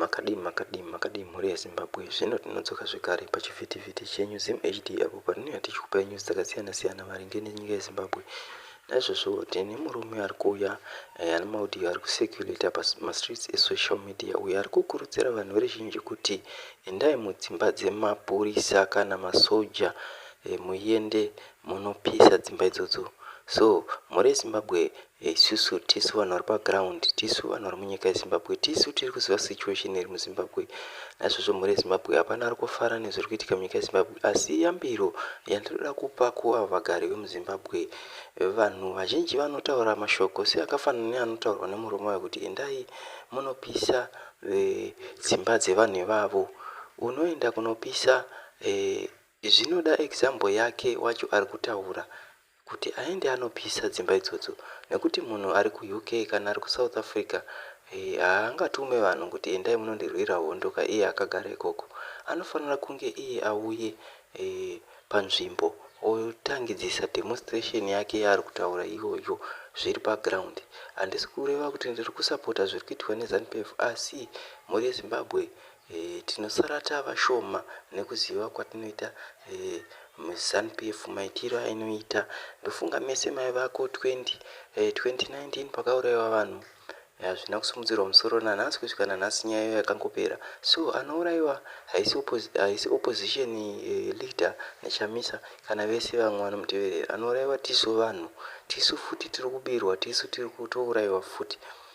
Makadii makadii makadii mhuri yeZimbabwe zvino tinodzoka zvekare pachivhitivhiti chenyu ZimHD apo patinouya tichikupai news dzakasiyana siyana maringe nenyika yeZimbabwe naizvozvo tine murume ari kuuya eh, ane maudio ari kucirculata pamastreets esocial media uyo ari kukurudzira vanhu veruzhinji kuti endai mudzimba dzemapurisa kana masoja eh, muende munopisa dzimba idzodzo so mhuri yezimbabwe Isusu tisu vanhu vari paground tisu vanhu vari munyika yezimbabwe tisu tiri kuziva situation iri muzimbabwe naizvozvo mhuri yezimbabwe hapana ari kufara nezviri kuitika munyika yezimbabwe asi yambiro yandinoda kupa kuavo vagari vemuzimbabwe vanhu vazhinji vanotaura mashoko seakafanana neanotaurwa nemurume wayo kuti endai munopisa eh, dzimba dzevanhu ivavo unoenda kunopisa eh, zvinoda example yake wacho ari kutaura kuti aende anopisa dzimba idzodzo nekuti munhu ari kuUK kana ari kuSouth Africa haangatume vanhu kuti endai munondirwira hondo ka iye akagara ikoko. Anofanira kunge iye auye panzvimbo otangidzisa demonstration yake yaari kutaura iyoyo zviri paground. Handisi kureva kuti ndiri kusapota zviri kuitwa neZanu PF asi mhuri yeZimbabwe Eeh tinosara tavashoma nekuziva kwatinoita eeh zanu PF maitiro ainoita ndofunga mese maiva ko 20 eeh 2019 pakauraiwa vanhu hazvina kusimudzirwa musoro nanhasi kusvika nanhasi nyaya iyo yakangopera so anouraiwa haisi haisi opposition eeh leader naChamisa kana vese vamwe vanomuteverera anouraiwa tisu vanhu tisu futi tirikubirwa tisu tirikutouraiwa futi